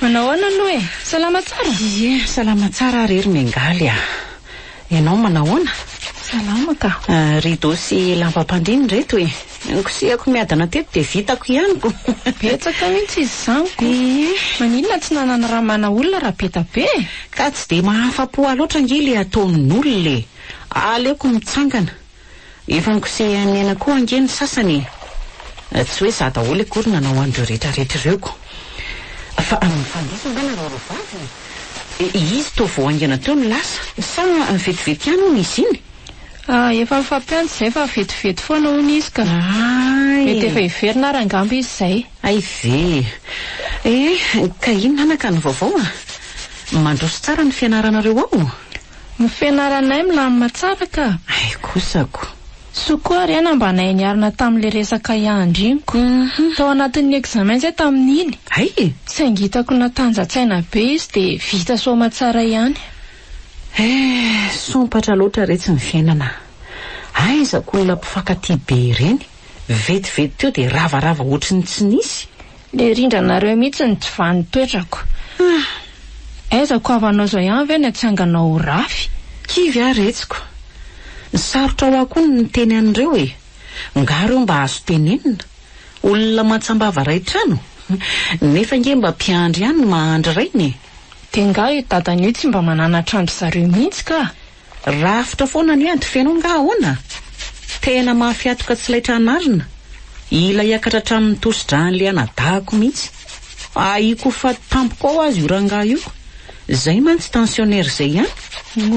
Manao ahoana aloha e? Salama tsara? Ie, salama tsara ary ry Mengaly a! Ianao manao ahoana? Salama ka! Rideau sy lambam-pandriana ireto e! Nikosehako miadana teto dia vitako ihany ko! Betsaka mihitsy izy izany ko! Ie! Maninona tsy nanana raha mana olona raha be da be e? Ka tsy dia mahafa-po ahy loatra ange ilay ataon'olona e! Aleoko mitsangana! Efa nikosehan'ny aina koa ange ny sasany e! Tsy hoe izaho daholo akory nanao an'ireo retraretra ireo ko! Fa mifandiso angamba ireo roa vavy e! Izy toa vao haingana teo no lasa. Sa vetivety ihany hono izy iny? Ah, efa nifampiantso izay fa vetivety foana hono izy ka! Mety efa hiverina ary angamba izy izay. Hay ve! Eh, ka inona ana ka ny vaovao a? Mandroso tsara ny fianaranareo ao? Ny fianaranay milamina tsara ka! Hay kosako! Soa koa re ana mba nahay niarina tamin'ilay resaka iandriniko tao anatin'ny examen zay tamin'iny! Hay e! Saingy hitako natanja-tsaina be izy dia vita soamatsara ihany. Eh, sompatra loatra re tsy ny fiainana a! Aiza ko olona mpifankatia be ireny? vetivety teo dia ravarava ohatry ny tsy nisy. Le rindranareo mihitsy no tsy vaha ny toetrako. Ah! Aiza ko havanao zao ihany ve ny hatsanganao ho rafy? Kivy aho retsiko. Sarotra ho ahy koa ny miteny an'ireo e! Ngah ireo mba azo tenenina? Olona mantsambava ray trano? Nefa ange mba mpiandry ihany ny mahandry rainy e! De ngah io dadany io tsy mba mananatra an-dry zareo mihitsy ka? Rafitra foana ny ady feno nga ahoana? Tena mahafiatoka tsy laitra hanarina ila hiakatra hatramin'ny tosi-dran'le anadahako mihitsy. Ahiako ho faty tampoka ao azy io rangahy io. Zay mantsy tensionnaire zay ihany.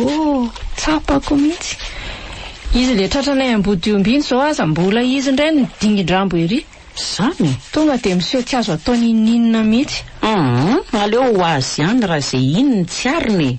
Oh, tsapako mihitsy. Izy le tratranay Ambodihomby iny zao aza mbola izy indray no dingin-drambo ery. Zany? Tonga dia miseho tsy azo atao n'inon'inona mihitsy. Hum, aleo ho azy ihany raha izay iny no tsy ariny e.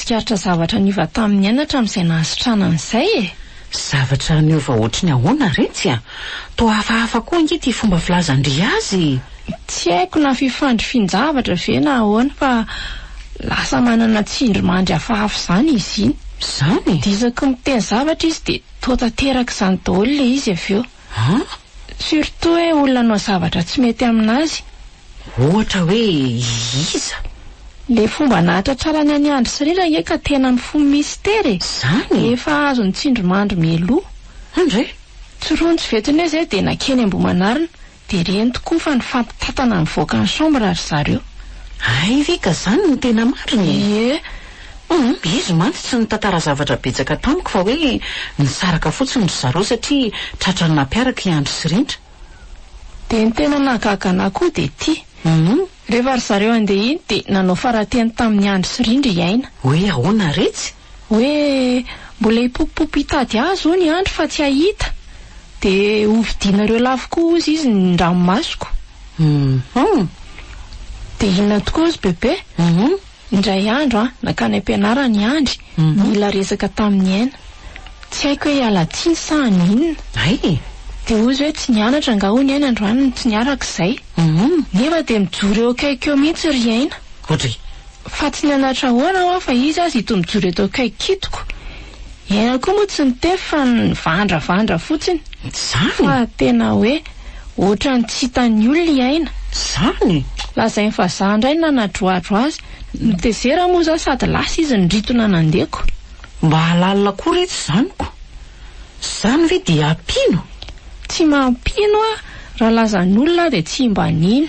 Tsikaritra zavatra niova tamin'ny aina hatramin'izay nahasitrana an'izay e! Zavatra niova hoatriny ahoana re tsy a! Toa hafahafa koa ange ity fomba filazan-dry azy e! Tsy haiko na fifandrifian-javatra ve na ahoana fa lasa manana tsindrimandry hafahafa izany izy iny. Izany? Dia isaky ny miteny zavatra izy dia toa tanteraka izany daholo ilay izy avy eo. An? Surtout hoe olona hanao zavatra tsy mety amin'azy. Ohatra hoe iza? Le fomba nahatratrarany an'i Andry sy Rindra nge ka tena mifono misitera e! Zany e! Efa azon'i Tsindrimandry mialoha. Andry e! Tsirontsy vetony hoe zay dia nankeny Ambohimanarina, dia reny tokoa fa nifampitantana nivoaka ny chambre ry zareo. Hay ve ka zany no tena marina e! Ie! Humm, izy mantsy tsy nitantara zavatra betsaka tamiko fa hoe nisaraka fotsiny ry zareo satria tratran'ny nampiaraka i Andry sy Rindra. Dia ny tena nahagaga anah koa dia ity. Rehefa ry zareo handeha iny dia nanao farateny tamin'i Andry sy Rindra i Aina. Hoe ahoana re tsy. Hoe mbola hipopopopy hitady azy hono i Andry fa tsy hahita. Dia ho vidianareo lafo koa hozy izy ny ranomasoko. Dia inona tokoa hozy Bebe? Indray andro aho nankany am-pianarana i Andry nila resaka tamin'i Aina. Tsy haiko hoe hiala tsiny sa hanao inona. Dia hozy hoe tsy nianatra angaha hono i Aina androany no tsy niaraka izay. Nefa dia mijoro eo akaikiko eo mihitsy ry Aina. Fa tsy nianatra ahoana hoa fa izy aza ito mijoro eto akaikiko itoko. I Aina koa moa tsy niteny fa nivandravandra fotsiny. Fa tena hoe. Ohatran'ny tsy hitan'ny olona i Aina. Zany e! Lazainy fa za indray nanadroadro azy. Notezera moa za sady lasa izy niritona nandeko. Mba halalina koa re tsy zaniko. Zany ve dia hampino? Tsy mampino aho. Raha lazan'olona aho dia tsy mba nino.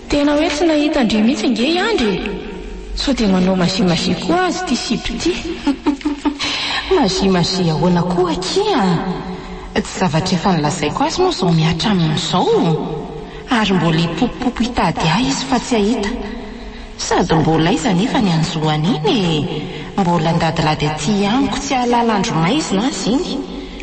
Tena hoe tsy nahita an-dry mihitsy ange i Andry e! Sao dia manao magie magie koa azy ity Siby ity? Magie magie ahoana koa akia? Tsy zavatra efa nolazaiko azy moa izao mihatra amin'izao? Ary mbola hipopopopo hitady ahy izy fa tsy hahita. Sady mbola aiza anefa ny an'izao an'iny e! Mbola an-dadilady aty amiko tsy hahalala andro maizina azy iny.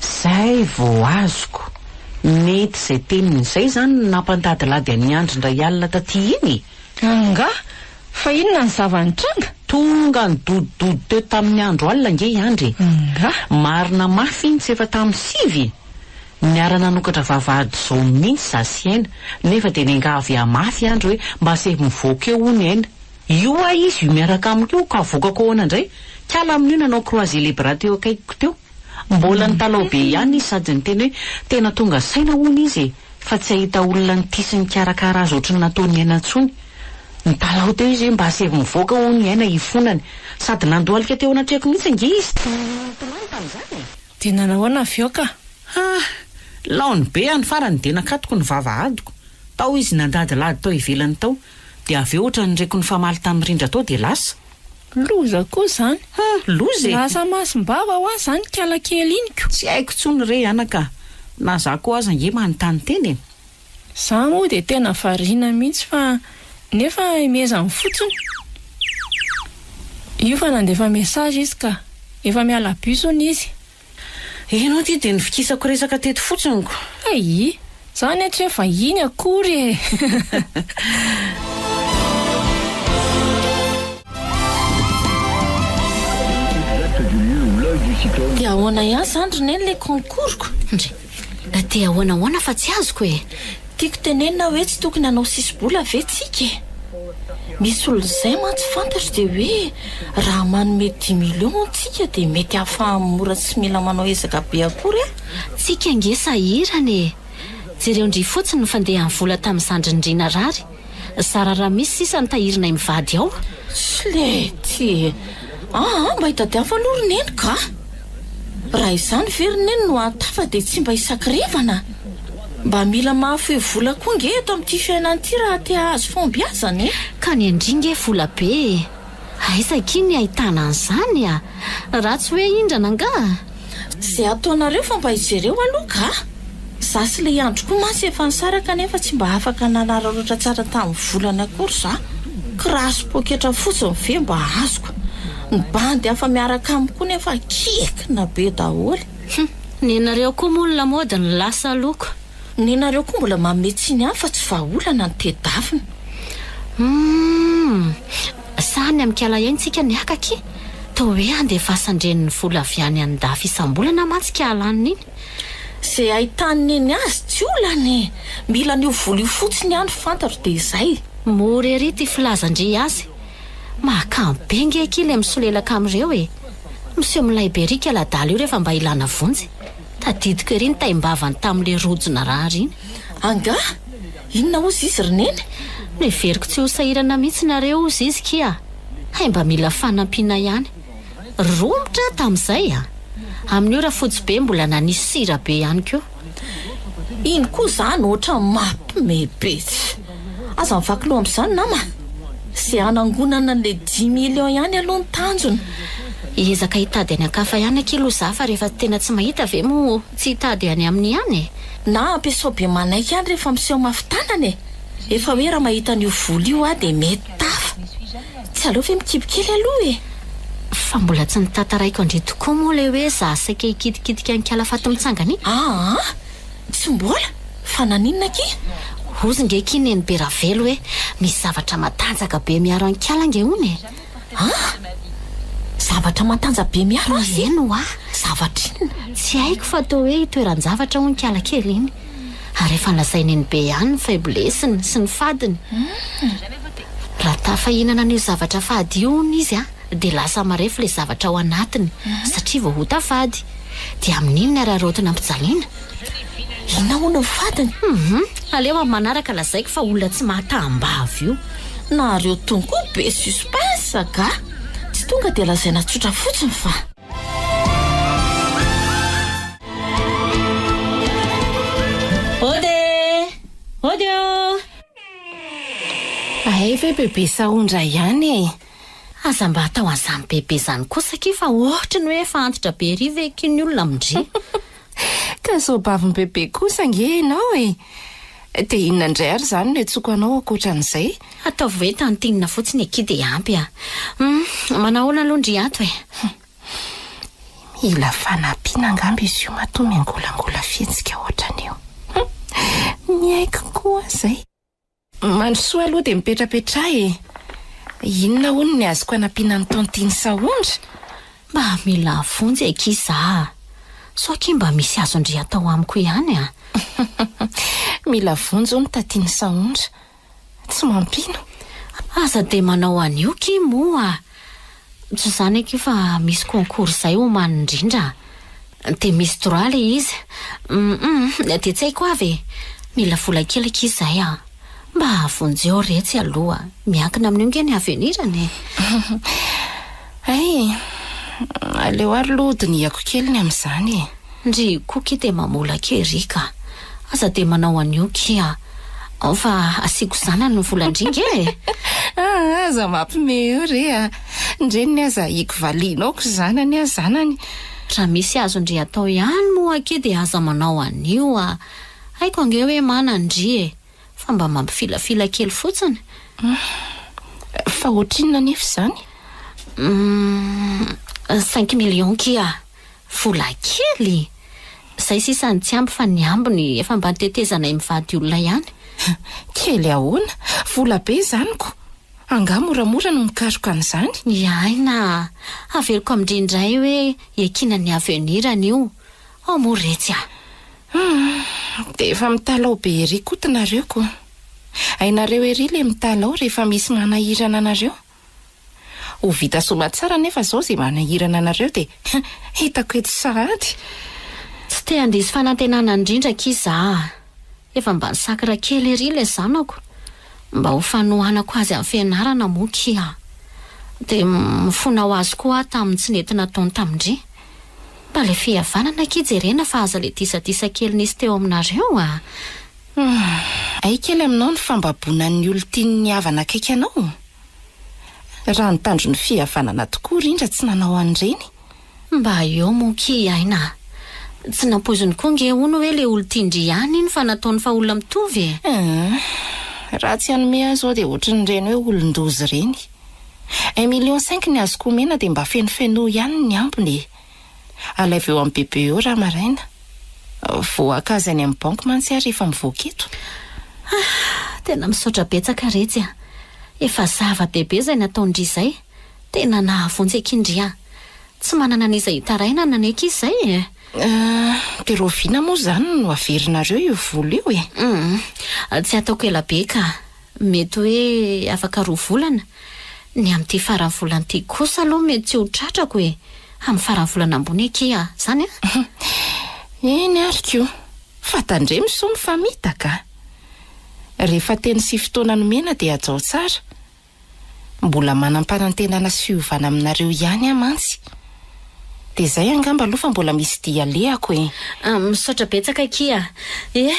Zay vao azoko. Mety izay teniny izay izany no nampandadilady an'i Andry indray alina taty iny e! Angaha? Fa inona ny zava-nitranga? Tonga nidodododo teo tamin'ny andro alina ange i Andry e! Angaha? Marina mafy iny tsy efa tamin'ny sivy e! Niara-nanokatra vavahady izao mihitsy za sy Aina, nefa dia nenga avy hamafy i Andry hoe mba aseho mivoaka eo hono i Aina. Io aho izy io miaraka amiko io ka avokako ahoana indray? Kala amin'io nanao croiser les bras teo akaikiko teo. Mbola nitalaho be ihany izy sady niteny hoe tena tonga saina hono izy e, fa tsy hahita olona nitia sy nikarakara azy ohatry ny nataon'i Aina intsony. Nitalaho teo izy hoe mba asaivo mivoaka hono i Aina hifonany. Sady nandohalika teo anatrehako mihitsy ange izy. Tsy nitomany tamin'izany e! Dia nanahoana avy eo ka? Hah! Laon'ny be any farany dia nakatoko ny vavahadiko. Tao izy nandadilady tao ivelany tao. Dia avy eo ohatran'ny reko nifamaly tamin'i Rindra tao dia lasa. Loza koa izany. Ha! Loza e! Lasa masim-bava ho ahy izany ikala kely iny ko! Tsy haiko intsony re anaka a! Na za koa aza ange manontany tena e! Za moa dia tena variana mihitsy fa nefa hemezany fotsiny. Io fa nandefa message izy ka! Efa miala bus hono izy. Ianao ity dia nivikisako resaka teto fotsiny ko. Aii! Zany an tsy hoe vahiny akory e! Dia ahoana ihany zany ry neny le concours-ko? Na te ahoana ahoana fa tsy azoko e! Tiako tenenina hoe tsy tokony hanao sisi-bola ve tsika e! Misy olona izay mantsy fantatro dia hoe raha manome dix millions hono tsika dia mety ahafahan'ny mora tsy mila manao ezaka be akory a! Tsika ange sahirana e! Jereo ndry fotsiny ny fandehan'ny vola tamin'ny zandrin'ny ry narary. Zara raha misy sisa ny tahirinay mivady ao. Slety! Aa mba itadiavo aloha ry neniko a! Raha izany ve ry neny no hahatafa dia tsy mba hisakirevana? Mba mila mahafoy vola koa nge eto amin'ity fiainana ity raha te hahazo fahombiazana e! Ka ny an-dry nge vola be e! Aiza akia ny ahitana an'izany a! Raha tsy hoe hindrana angaha? Ze ataonareo fa mba ijereo aloha ka! Za sy le andry koa mantsy efa nisaraka nefa tsy mba afaka nanararaotra tsara tamin'ny volany akory za! Kiraha sy poketra fotsiny ve mba azoko? Ny bandy hafa miaraka aminy koa nefa kikina be daholo! Hum! Nenareo koa moa ny lamaody no lasa loko! Nenareo koa mbola manome tsiny ihany fa tsy vahaolana ny tedavina. Humm! Sahy ny amikala ihany tsika miaka ki! Toa hoe andefasan-dreny ny vola avy any an dafy isam-bolana mantsy ki alaniny iny! Ze ahitany neny azy tsy olana e! Mila an'io vola io fotsiny aho no fantatro dia izay! Mora ery ty filazan-dry azy! Mahakamo be nge ki le misolelaka amin'ireo e! Miseho milay be ry kela adala io rehefa mba ilana vonjy! Tadidiko ery ny taim-bavany tamin'ilay rojo narary iny. Angaha? Inona hoy Zizy ry Neny? Noheveriko tsy ho sahirana mihitsy nareo hoy Zizy kia. Hay mba mila fanampiana ihany. Romotra aho tamin'izay a! Amin'io Rafotsibe mbola nanisy sira be ihany koa. Iny koa izany ohatran'ny mampme be. Aza mivaky loha amin'izany nama a! Izay hanangonana an'ilay dimy millions ihany aloha no tanjona. Hiezaka hitady any an-kafa ihany akia aloha za fa rehefa tena tsy mahita ve moa tsy hitady any aminy ihany e! Na ampiasao be manaiky ihany rehefa miseho mafy tanana e! Efa hoe raha mahita an'io vola io aho dia mety tafa. Tsy aleo ve mikibo kely aloha e! Fa mbola tsy notantaraiko an-dry tokoa moa ilay hoe za saika hikitikitika an-kalafaty mitsangana iny. Aa! Tsy mbola? Fa naninona akia? Hozy nge akia Nenibe Ravelo hoe misy zavatra matanjaka be miaro an'Inkala nge hono e! An? Zavatra matanjaka be miaro azy? Toy izay no ahy. Zavatra inona? Tsy haiko fa toa hoe itoeran-javatra hono Inkala kely iny. Ary efa nolazain'i Nenibe ihany ny faiblesse-ny sy ny fadiny. Raha tafahinana an'io zavatra fady io hono izy an! dia lasa marefo ilay zavatra ao anatiny satria vao ota fady. Dia amin'iny ny araraotina ampijaliana. Inona hono ny fadiny? Hum, aleo amin'ny manaraka lazaiko fa olona tsy mahataham-bava io. Nareo tony koa be suspense angaha? Tsy tonga dia lazaina tsotra fotsiny fa. Ody eh! Ody oh! Hay ve bebe sahondra ihany e! Aza mba atao an'izany bebe izany kosa akia fa ohatry ny hoe efa antitra be ery ve akia ny olona amin-dry? Ka soabavin bebe kosa ange ianao e! Dia inona indray ary izany no iantsoako anao ankoatra an'izay? Ataovy hoe Tantinina fotsiny akia dia ampy a! Hum, manahoana aloha ndry ato e? Hum, mila fanampiana angamba izy io matoa miangolangola fihetsika ohatran'io. Hum, ny aiko koa izay. Mandrosoa aloha dia mipetrapetraha e! Inona hono ny azoko anampiana an'i Tantine Sahondra? Mba mila vonjy akia za a! Sao akia mba misy azon-dry atao amiko ihany a! Mila vonjy hono Tantine Sahondra! Tsy mampino! Aza dia manao an'io ki moa! Tsy izany akia fa misy concours izay omaly indrindra a! Dia misy droit ilay izy. Hum hum dia tsy haiko avy e! Mila vola kely akia izahay a! Mba vonjeo re tsy aloha! Miankina amin'io ange ny avenir-ny e! Hay e! Aleo ary aloha dinihako kely ny amin'izany e! Ndry Koky dia mamolaka ery ka. Aza dia manao an'io ki a. Ao fa asiako zanany ny volan-dringa e! Aa aza mampime eo re a. Ny reniny aza ahiako valianao ko zanany a zanany. Raha misy azon-dry atao ihany moa ki dia aza manao an'io a. Haiko ange hoe mana an-dry e. Fa mba mampifilafila kely fotsiny. Fa ohatrinona anefa izany? Umm cinq millions ki a. Vola kely! Zay sisa ny tsy ampy fa ny ambiny efa mba nitetezanay mivady olona ihany. Kely ahoana? Vola be izany ko! Angaha moramora no mikaroka an'izany? Miaina a! Haveriko amin-dry indray hoe iakina ny avenir anio ao moa retsy a! Hum! Dia efa mitalaho be ery koto nareo ko! Hainareo ery le mitalaho rehefa misy manahirana anareo? Ho vita somatsara nefa zao ze manahirana anareo de hitako eto sahady. Tsy te handiso fanantenana indrindra akia za a! Efa mba nisakra kely ery ilay zanako mba ho fanohanako azy amin'ny fianarana moa akia a! Dia mifona ho azy koa aho tamin'ny tsy nety nataony tamin-dry. Mba ilay fihavanana akia jerena fa aza ilay disadisa kely nisy teo aminareo a! Humm. Hay kely aminao ny fambaboana ny olon-tian'ny havana akaiky anao? Raha ny tanjon'ny fihavanana tokoa Rindra tsy nanao an'ireny? Mba eo moa key aina a! Tsy nampoiziny koa nge hono hoe le olon-tian-dry ihany iny fa nataony fa olona mitovy e! Humm. Raha tsy hanome ahy izao dia ohatrin'ireny hoe olon-doza ireny. Un million cinq ny azoko omena dia mba fenofenoy ihany ny ambiny e! Alaivo eo amin'ny bebe eo raha maraina. Vao haka azy any amin'ny banky mantsy ary efa mivoaka eto. Ah! Tena misaotra betsaka re tsy a! Efa zava bebe izay nataon-dry izay, tena nahavonjy akin-dry ahy. Tsy manana an'iza hitaraina na nanaiky izy izay e! Ah! Dia rahoviana moa izany no averinareo io vola io e? Humm! Tsy ataoko ela be ka! Mety hoe afaka roa volana, ny amin'ity faran'ny volana ity kosa aloha mety tsy ho tratrako e! Amin'ny faran'ny volana ambony akia izany an! Eny ary koa, fa tandremo soa mifamitaka! Rehefa teny sy fotoana nomena dia hajao tsara. Mbola manam-panantenana sy fiovana aminareo ihany aho mantsy. Dia izay angamba aloha fa mbola misy dia alehako e! Misaotra betsaka akia a! Eh!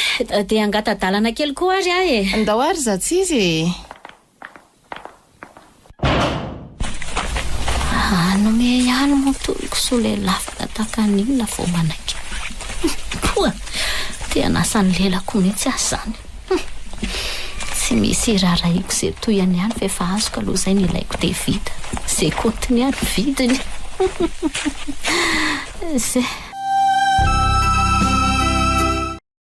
Dia hangata-dalana kely koa ary aho e! Ndao ary Zatsizy e! Hanome ihany moa tohiko sao lelafina tahaka ny inona vao manaiky. Poa! Te hanasa ny lelako mihitsy aho izany. Tsy misy irarahiako ze tohiny ihany fa efa azoko aloha zay ny ilaiko de vita ze kotiny ary vidiny ze.